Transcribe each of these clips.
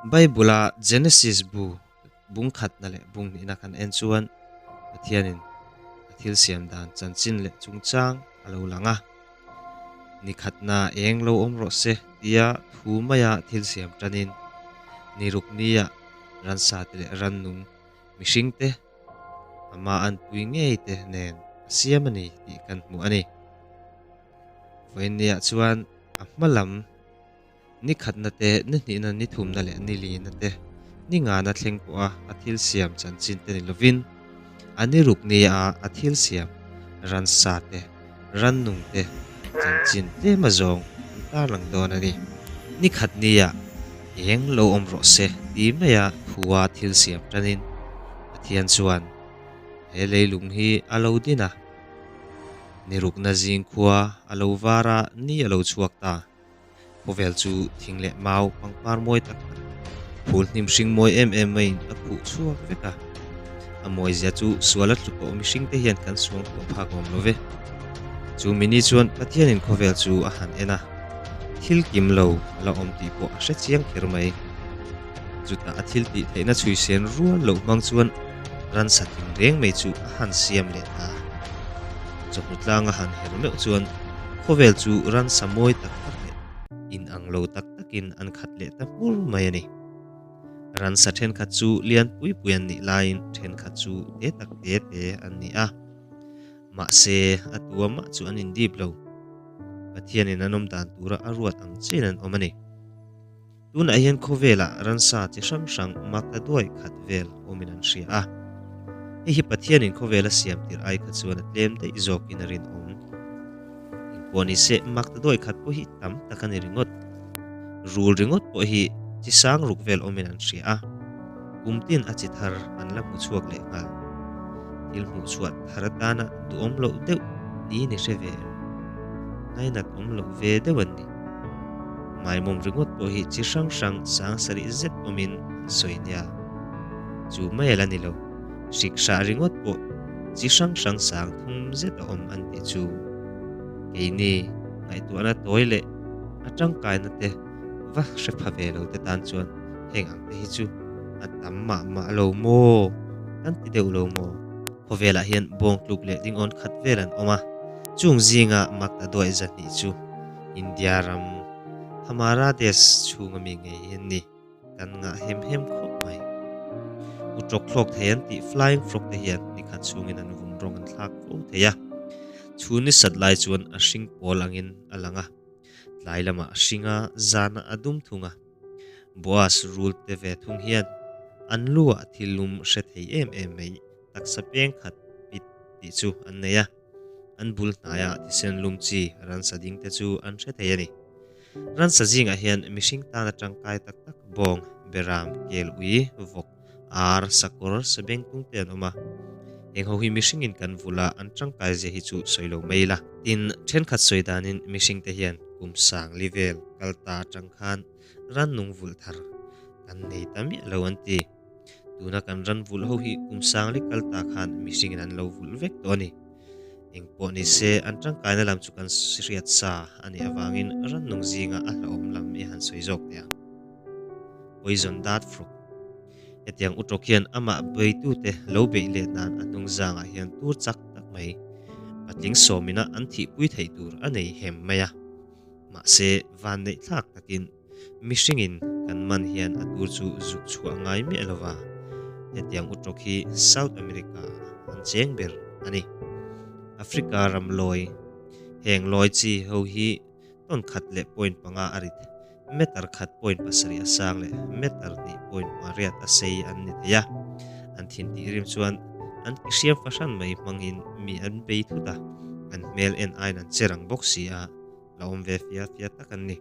Bible-a Genesis bu bung khatna leh bung hnihna kan en chuan Pathianin a thil siam dan chanchin leh chungchang a lo lang a. Ni khatna eng lo awm rawh se tia thu maia thil siam tanin ni ruk nia ransate leh rannung mihringte ama an pui ngei te nen a siam a ni tih kan hmu a ni. Vawinia chuan a hma lam. Ni khatna te, ni hnihna, ni thumna leh ni lina te, ni ngana thleng pawha a thil siam chanchin te ni lovin, a ni ruk ni a a thil siam ran sa te, ran nung te chanchin tlema zawng an tarlang dawn a ni. Ni khat ni ah eng lo awm rawh se ti mai a thu a thil siam tanin Pathian chuan he leilung hi a lo din a, ni rukna zing khua a lo var a, ni a lo chhuak ta. Khaw vel chu thing leh mau pangpar mawi tak tak, phul hnim hring mawi em em maiin a phuh chhuak vek a. A mawizia chu suala tlu pawh mihringte hian kan suang pawh phak awm lo ve. Chu mini chuan Pathianin khaw vel chu a han en a, thil kim lo a la awm tih pawh a hre chiang kher mai. Chutah a thil tih theihna chhui sen rual loh hmang chuan, Ransat hmun reng mai chu a han siam leh ta a. Chawhnu tlang a han her meuh chuan khawvel chu ransa mawi tak tak leh in ang lo tak takin an khat leh ta hmur mai a ni. Ransa thenkhat chu lian pui pui an nih laiin thenkhat chu te tak te te an ni a. Mahse, a tua mah chu an indip lo. Pathianin an awm dan tura a ruat ang chin an awm a ni. Tunah hian khawvelah ransa chi hrang hrang mak la duai khat vel awmin an hria a. Hei hi Pathianin khawvel a siam tirh ai kha chuan a tlem daih zawkin a rinawm. Engpawh ni se, mak ta duai khat pawh hi tam tak a ni ringawt. Rul ringawt pawh hi chi sang ruk vel awmin an hria a. Kum tin a chi thar an la hmu chhuak leh nghal. Thil hmuh chhuah thar atana duhawm loh deuh ni ni hre ve em? Ngainat awm loh ve deuh an ni. Maimawm ringawt pawh hi chi hrang hrang sang sarih zet awmin an sawi nia. Chu mail a ni lo, hrik hrah ringawt pawh chi hrang hrang sang thum zet a awm an tih chu. Keini ngaihtuahna tawi leh a tangkainate. va hre pha ve lo te tan chuan heng ang te hi chu an tam mah mah lo maw kan ti deuh lo maw? Khaw velah hian bawng tluk leh ringawn khat vel an awm a, chung zinga Magda duai zahnih chu India ram Hamara Desh chhunga mi ngei hi an ni, kan ngah hem hem khawp mai. U Chawk thlawk thei an tih Flying Frog te hian ni khat chungin an vun rawng an thlak fo thei a, chhun ni sat lai chuan a hring pawl angin a lang a. Tlai lama a hringa zana a dum thung a. Boaz rul te ve thung hian an lu ah thil lum hre thei em em mai, taksa peng khat pit tih chu an nei a. An bul hnai ah thisen lum chi ransa ding te chu an hre thei a ni. Ransa zing ah hian mihring tana tangkai tak tak bawng, beram, kel ui, vawk, ar, sakawr, sabeng tung te an awm a. Heng ho hi mihringin kan vul a an tangkaizia hi chu sawi lo mai ila. Tin, thenkhat sawi danin mihring te hian kum sangli vel kal ta atang khan ran nung vulh thar kan nei ta miah lo an ti. Tuna kan ran vulh ho hi kum sangli kal ta khan mihringin an lo vulh vek tawh a ni. Engpawh ni se, an tangkaina lam chu kan hriat sa a nih avangin rannung zinga a hlauhawm lam i han sawi zawk teh ang. Poison dart frog. Hetiang utawk hian amah beitute lo beih leh nan a hnung zangah hian tur chak tak mai patling sawmina an thihpui theih tur a nei hem mai a. Mahse, van neih thlak takin, mihringin kan man hian a tur chu zuk chhuah ngai miah lo va, hetiang utawk hi South America an cheng ber a ni. Africa ram lawi, heng lawi chi ho hi ton khat leh point panga a rit, meter khat point pasarih a sang leh meter hnih point pariat a sei an ni thei a, an thin tih rim chuan an ki hriam fahran mai hmangin mi an pei thut a, an hmel en aiin an cher ang bawk si a, la awm ve fia fia tak an ni.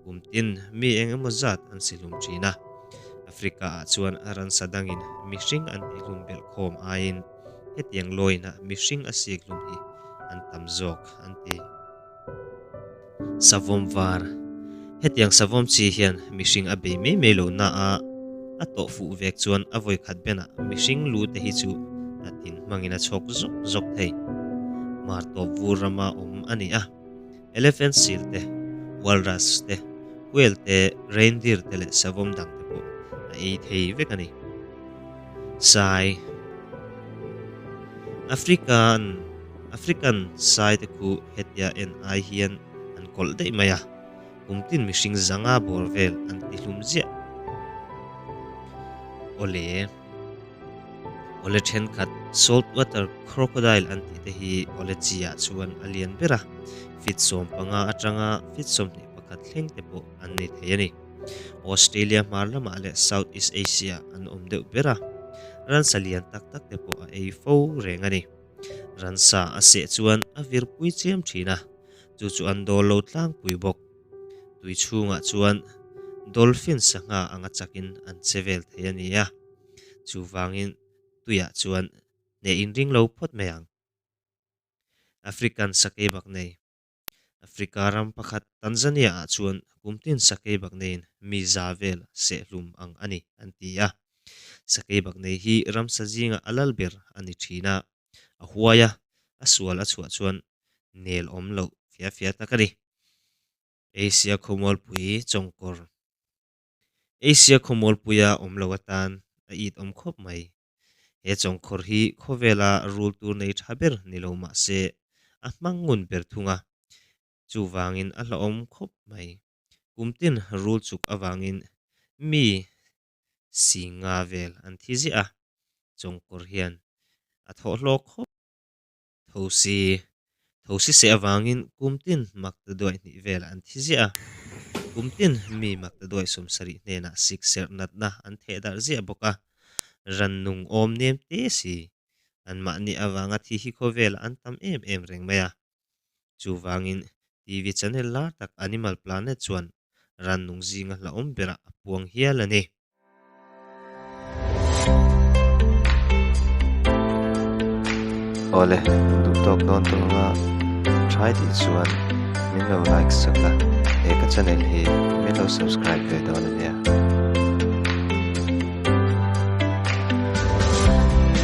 Umtin, mi eng emaw zat an si hlum thin a. Africa-ah chuan ransa dangin mihring an ti hlum belh khawm aiin hetiang lawinah mihring a sik hlum hi an tam zawk an ti. Savawm var, Hetiang savawm chi hian mihring a bei mai mai lohna a a tawh fuh vek chuan a vawi khat benah mihring lu te hi chu a tin hmangin a chhawk zawk zawk thei. Hmartawp vur rama awm a ni a. Elephant seal te, walrus te, whale te, reindeer te leh savom dang te pawh a ei thei vek a ni. Sai African African sai te khu hetia en ai hian an kawlh daih mai a, kum tin mihring zanga bawr vel an tihlum ziah aw le. Awle thenkhat, salt water crocodile an tih te hi awle chiah chuan a lian ber a, feet sawm panga atanga feet sawmhnih pakhat thleng te pawh an nei thei a ni. Australia hmar lamah leh South East Asia an awm deuh ber a, ransa lian tak tak te pawh a ei fo reng a ni. Ransa a seh chuan a vir pui chiam thin a, chu chu an dawl lo tlang pui bawk. Tui chhungah chuan dolphin sangha anga chakin an che vel thei a nia. Chuvangin tuiah chuan hne in ring lo phawt mai ang. African sakei bak nei. Africa ram pakhat Tanzania ah chuan kumtin sakei bak neiin mi za vel seh hlum ang a ni, an ti a. Sakei bak nei hi ramsa zinga a lal ber a ni thin a. a huai a a sual a chhuah chuan nel awm loh fia fia tak a ni. Asia khawmualpui chawngkawr Asia khawmualpuia awm lo atan a it awm khawp mai. He chawngkhawr hi khawvela rul tur nei tha ber ni lo mah se a hmang ngun ber thung a, chuvangin a hlauhawm khawp mai. Kum tin rul chuk avangin mi si nga vel an thi ziah a, chawngkawr hian a thawh hlawk khawp. Tho si, tho si seh avangin Kumtin Maktaduai hnih vel an thi ziah a. Kumtin mi Maktaduai sawmsarih hnenah sikserh natna an theh darh ziah bawk a, rannung awm nem te si. Anmahni avanga thi hi khawvel an tam em em reng mai a, Chuvangin, TV channel lar tak Animal Planet chuan rannung zinga hlauhawm berah a puang hial a ni. Awle, min duh tawk dawn tawh anga, try tih chuan min lo like sak a, he ka channel hi min lo subscribe ve dawn a nia.